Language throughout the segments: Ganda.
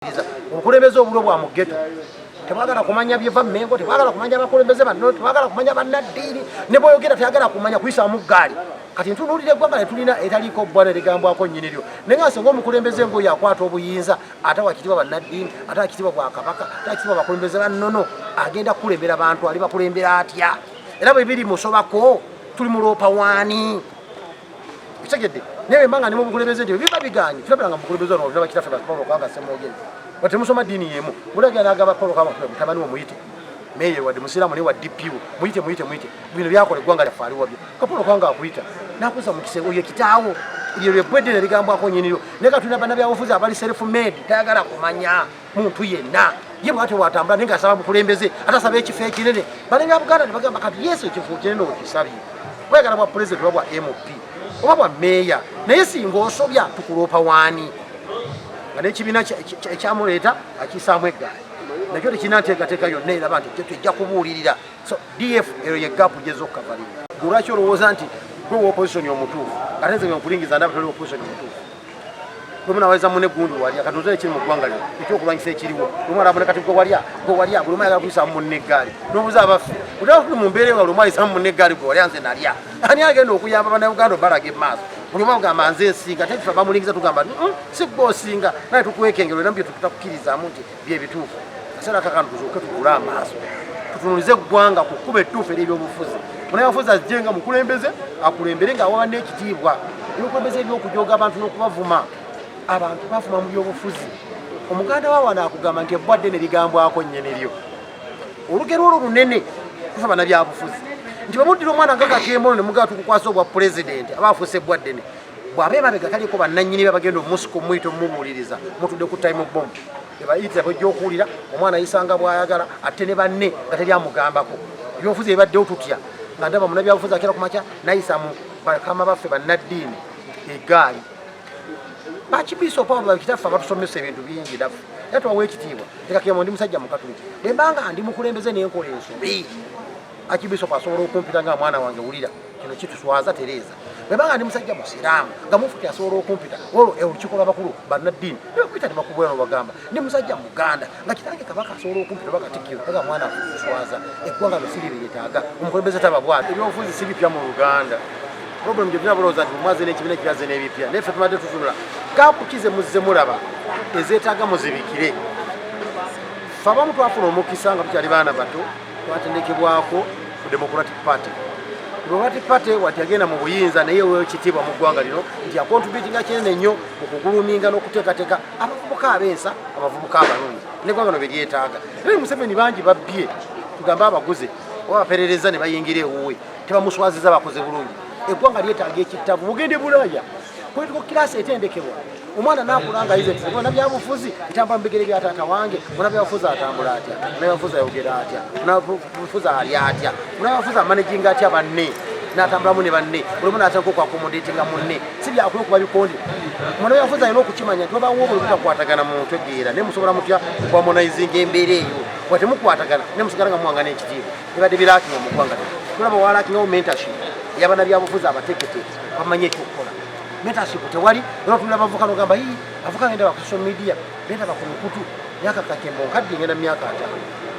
bwekiriza obukulembeze obulo bwa mugeto tebagala kumanya byeva mengo tebagala kumanya bakulembeze banno tebagala kumanya bannaddiini ne bwoyogera teyagala kumanya kuyisamu ggaali kati ntunuulira eggwanga netulina etaliiko bbwana erigambwako nnyini lyo naye nga singa omukulembeze ngoyo akwata obuyinza ate wakitibwa bannaddiini ate wakitibwa bwakabaka ate wakitibwa bakulembeze bannono agenda kukulembera bantu ali bakulembera atya era bwe biri musobako tuli muloopa waani kitegedde naye bemba nga ne mu bukulembeze nti biba bigaanye tulabira nga mubukulembeze ono olina bakitaffe bakipolo kwanga semwogezi nga temusoma ddiini y'emu mulabira n'agamba polo kwanga mutabani wo muyite meye wadde musiraamu naye wa dpu muyite muyite muyite bino byakola eggwanga lyaffe ali wabyo kapolo kwanga akuyita nakuza mu kisenge oyo kitaawo lye lwebbweddene ligambwako nyiniryo naye katulina bannabyabufuzi abali self made tayagala kumanya muntu yenna ye bwatyo bwatambula naye ngaasaba bukulembeze ate asaba ekifo ekinene balinga buganda nebagamba kati yesu ekifo kinene okisabye wegala bwa pulezidenti oba bwa mp oba bwa meeya naye singa osobya tukuloopa waani nga nekibiina ekyamuleeta akisaamu eggaali nakyo tekirina nteekateeka yonna eraba nti tujja kubuulirira so df eyo yegapu gyeza okukavalira lwaki olowooza nti gwe wopositioni omutuufu ate nze wenkulingiza ndabatali opositioni omutuufu lwemunaweza mune gundi walya katuze ekiri mu ggwanga lino ekyokulwanyisa ekiriwo lwemwalabona kati gwe walya gwe walya buli mwayagala kuyisamu munne eggaali nobuza abaffe utaafuna mu mbeera nga buli mwayisamu munne eggaali gwe walya nze nalya ani agenda okuyamba banauganda obalaga emaaso buli omu agamba nze nsinga tekifa bamulingiza tugamba si gwe osinga naye tukwekengera era mu bye tutakukirizamu nti byebituufu kaseera kakano tuzuuke tugule amaaso tutunulize eggwanga ku kkuba ettuufu ery'ebyobufuzi munayafuzi ajje nga mukulembeze akulembere nga awaba n'ekitiibwa ebyokulembeze ebyokujoga abantu n'okubavuma abantu bavuma mu byobufuzi omuganda wa wano akugamba nti ebbwa ddene ligambwako nnyene lyo olugero olwo lunene kufa banabyabufuzi nti bamuddira omwana nga kakemono ne mugaa tukukwasa obwa pulezidenti aba afuuse ebbwa ddene bwaba emabega taliko bannanyini be bagenda omusika omuyita omumubuuliriza mutudde ku time bomb ebayitira bwejja okuwulira omwana ayisanga bwayagala atte ne banne nga teri amugambako ebyobufuzi ebibaddewo tutya nga ndaba munabyabufuzi akera ku makya nayisa mu bakama baffe bannaddiini egaali bakibiisa opawo bakitaffe abatusomesa ebintu bingi naffe era tubawa ekitiibwa ekakiyamo ndi musajja mukatuliki bwembanga ndi mukulembeze nenkola ensobi akibiisa opo asobola okumpita nga mwana wange wulira kino kituswaza tereeza bweba nga ndi musajja musiraamu nga mufuti asobola okumpita olwo olukiiko lwabakulu bannaddiini nebakuita nebakubwera nobagamba ndi musajja muganda nga kitange kabaka asobola okumpita oba katikkiro aga mwana akuswaza eggwanga lwesiri lyetaaga omukulembeze taba bwati ebyobufuzi si bipya mu luganda problem gyebina bulowooza nti mumwaze n'ekibiina kiraze n'ebipya naye ffe tumadde tutunula kaapu kize muzze mulaba ezeetaaga muzibikire fe abamu twafuna omukisa nga tukyali baana bato twatendekebwako ku democratic party democratic party wati yagenda mu buyinza naye weyo kitiibwa mu ggwanga lino nti akontributinga kinene nnyo mu kuguluminga n'okuteekateeka abavubuka ab'ensa abavubuka abalungi neggwanga no beryetaaga naye museveni bangi babbye tugambe abaguze oba baperereza ne bayingira ewuwe tebamuswaziza bakoze bulungi eggwanga lyetaaga ekittavu mugende bulaaya Political class etendekebwa omwana nakula nga yize nti bona byabufuzi etambula mu bigere bya taata wange bona byabufuzi atambula atya bona byabufuzi ayogera atya bona byabufuzi ali atya bona byabufuzi amanejinga atya banne natambulamu ne banne olimu natandika okwakomodetinga munne si byakula okuba bikonde mwana byabufuzi alina okukimanya nti babawo obuli butakwatagana muntu egeera naye musobola mutya okwamonaizinga embeera eyo wa temukwatagana naye musigala nga muwangana ekitiibwa ebadde birakinga mu ggwanga tulaba walakingawo mentorship yabana byabufuzi abatekete bamanye ekyokukola mentorship tewali era otunda abavuka nogamba ii avuka ngenda baku social media benda baku mukutu myaka kakembo nkadde ngenda myaka ata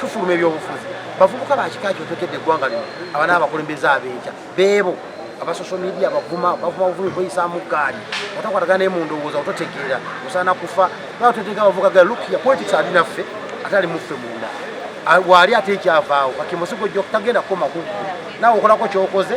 tufuluma ebyobufuzi bavubuka bakika kyo tokedde eggwanga lino abana abakulembeze abenkya beebo aba social media bavuma bavuma buvumi bweyisaamu gaali otakwatagana naye mu ndowooza ototegeera osaana kufa nawe totegeera bavuka gaa lukia politics ali naffe ate ali muffe munda waali ate ekyavaawo kakembo sigojja okutagenda kukoma kuggu nawe okolako kyokoze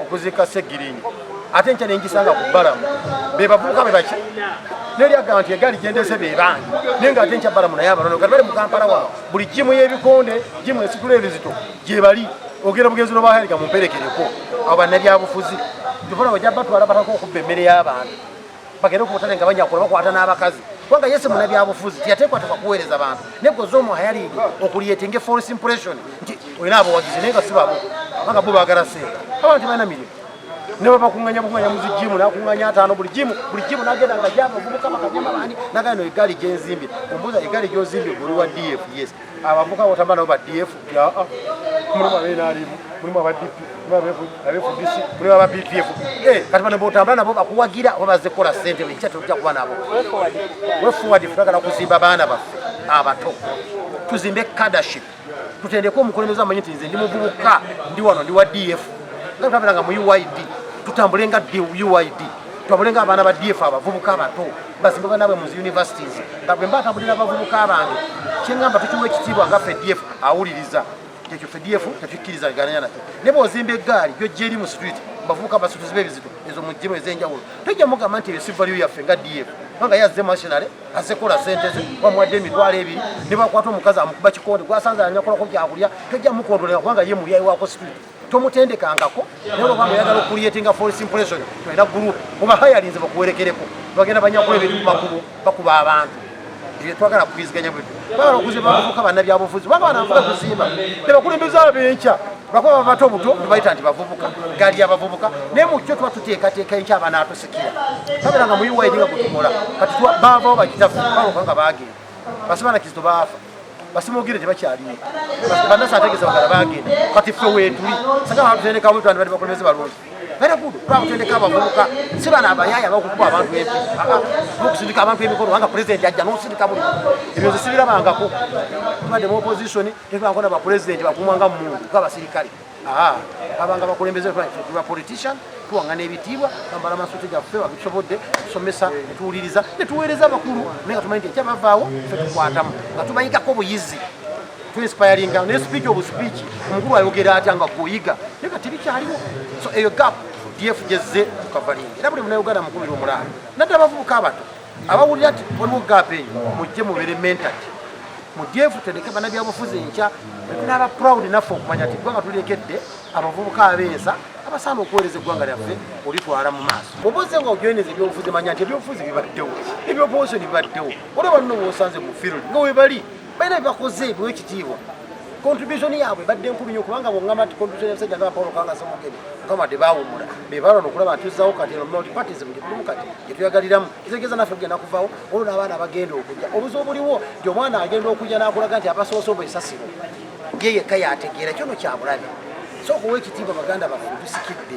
okuziika Ssegirinya ate nkya nengisanga ku Balamu be bavubuka be baki neri agamba nti egaali gyendese be bangi naye nga ate nkya Balamu naye abanono kati bali mu Kampala wano buli jimu y'ebikonde jimu esitula ebizito gyebali ogenda bugenzi nobaherika mumperekereko abo bannabyabufuzi tufuna bajja batwala bataka okubba emmere y'abantu bagende ku butale nga bajja kukola bakwata n'abakazi kubanga ye si munabyabufuzi teyateekwateekwa kuweereza bantu naye gwe zoomu hayalingi okuliyetinge force impression nti olina abawagizi naye nga si babo kubanga bo baagala seera abantu balina mirimu ne bwe bakunganya bukunganya muzi jimu nakunganya ataano buli jimu buli jimu nagenda nga java ovubuka bakajama bandi nagana no egaali gyenzimbye ombuuza egaali gyozimbye gwe oli wa df yes abavuka wotamba nabo ba df ah, ah. mulimu abenalimu mulimu abadp abefdc mulimu aba bpf eh, kati bano botambula nabo bakuwagira oba baze kukola sente ekya tujja kuba nabo wefuwadi twagala kuzimba baana baffe abato tuzimbe cadaship tutendeke omukulembeze amanyi nti nze ndi muvubuka ndi wano ndi wa df nga tutabeeranga mu uid tutambule nga uid tutambule nga abaana ba df abavubuka abato bazimba banaabwe mu zi universities nga bwe mba tambulira abavubuka bange kyengamba tukiwa ekitiibwa nga fdf awuliriza ekyo fdf tetukkiriza bigananya nakyo ne bwozimba eggaali gyojja eri mu street bavubuka basutuzi bebizito ezo mujimu ezenjawulo tojja mugamba nti ebyo si value yaffe nga df kubanga ye azze masinale azze kola sente ze bamuwadde emitwalo ebiri ne bakwata omukazi amukuba kikonde gwasanze anyakolako kyakulya tojja mukondolera kubanga ye mulyayi wako street tomutendekangako naye bwaba nga oyagala okuliyetinga false impression tolina group oba hayalinze bakuwerekereko bagenda banyakula ebintu kumakubo bakuba abantu ebyo twagala kukwiziganya bwe bagala okuze bavuka banabyabufuzi baba banavuga kuzimba nebakulembeza abenkya bakuba babato obuto nebayita nti bavubuka gali abavubuka naye mukyo tuba tuteekateeka enkya abanaatusikira kabera nga muyiwaidinga kutukola kati bavawo bakitafu baoka nga bagenda basima na kizito baafa basima ogire tebakyaliwo banasi ategeza bagala bagenda kati ffe wetuli saka batutendeka bwetu andi bali bakulembeze balungi very good twakutendeka abavubuka si bana abayaya bakukuba abantu ebi nokusindika abantu emikono wanga president ajja nosindika buli ebyo nze sibirabangako tubadde mu opposition tetubankona ba president bakumwanga mumuntu nga basirikale Ah, abanga bakulembeze tuba politician tuwangana ebitiibwa bambala amasuti gaffe wabitusobodde tusomesa netuwuliriza netuweereza abakulu naye nga tumanyi nti ekya bavaawo fe tukwatamu nga tubayigako obuyizi tuinspiringa naye sipiiki obu sipiiki omukulu ayogera atya nga kuyiga naye nga tebikyaliwo so eyo gap df gyezze tukavalinga era buli munauganda mukubira omulaalo nadde abavubuka abato abawulira nti waliwo gap eyo mujje mubere mentat mudyefu tendeke bana byabufuzi enkya tunaba proud naffe okumanya nti gwanga tulekedde abavubuka abensa abasaana okuweereza eggwanga lyaffe olitwala mu maaso obuze nga ojoyineza ebyobufuzi manya nti ebyobufuzi bibaddewo ebyobuwosoni bibaddewo olaba nno wosanze mu field nga webali balina byebakoze biwa ekitiibwa contribution yaabwe badde nkulu nyo kubanga bwongamba nti contribution yabasajja nga paul kanga semugeni mukama de bawumula bebalwa nokulaba ntuzawo kati eno multi parties mugitulumu kati gyetuyagaliramu kitegeeza naffe kugenda kuvawo olwo n'abaana abagenda okujja obuzi obuliwo nti omwana agenda okujja n'akulaga nti abasoose obwo esasiro ye yekka yategeera kyono kyabulabe so okuwa ekitiibwa baganda baffe tusikidde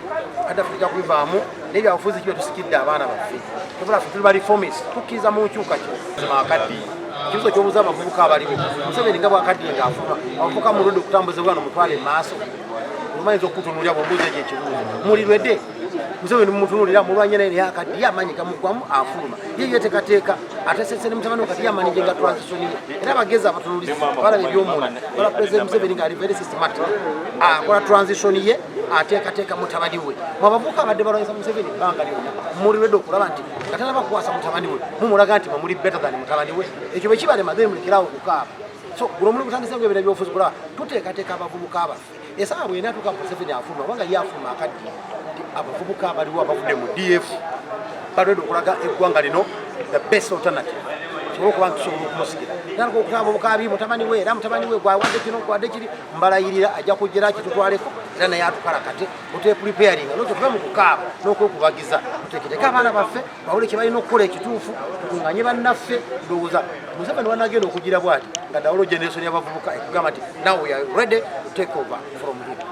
kadafu tujja kubivaamu naye byabufuzi kibe tusikidde abaana baffe tubula ffe tuli balifomis tukkiriza mu nkyukakyuka akaddi ekibuzo kyobuza abavubuka abaliwo museveni nga bwakaddi nga afuba abavubuka muludde okutambuza obwana omutwale mu maaso omayinza okukutunulira bwobuuza ekyo ekibuzo mulirwede museveni mumutunulira mulwanye naye naye akaddi ye amaanyi gamugwamu afuluma ye yetekateeka atesese ne mutabani kati yamanyi gyenga transitioni ye era abagezi abatunulizi balaba ebyomunda bala president museveni nga ali very systematic akola transitioni ye ateekateeka mutabani we mwabavuka abadde balwanyisa museveni ebbanga lyona muliredde okulaba nti nga tanaba kukwasa mutabani we mumulaga nti mamuli better than mutabani we ekyo bwekibalema then mulekerawo okukaaba so guno omuli gutandise nga ebira byobufuzi kulaba tuteekateeka abavubuka abaffe esaawa bwena atuuka museveni afuluma kubanga ye afuluma akaddi nti abavubuka abaliwo abavudde mu df balwedde okulaga eggwanga lino the best alternative tusobole okuba nti tusobola okumusigira era nokutaba obukabi mutabani we era mutabani we gwawadde kino gwawadde kiri mbalayirira ajja kujjera kitutwaleko era naye atukalakate otepulipeyaringa nototuve mu kukaaba n'okwekubagiza tuteeketeke abaana baffe bawule kye balina okukola ekituufu tukunganye bannaffe ndowooza museveni wanagenda okugira bwati nga dawolo generation y'abavubuka ekugamba nti now we are ready to take over from him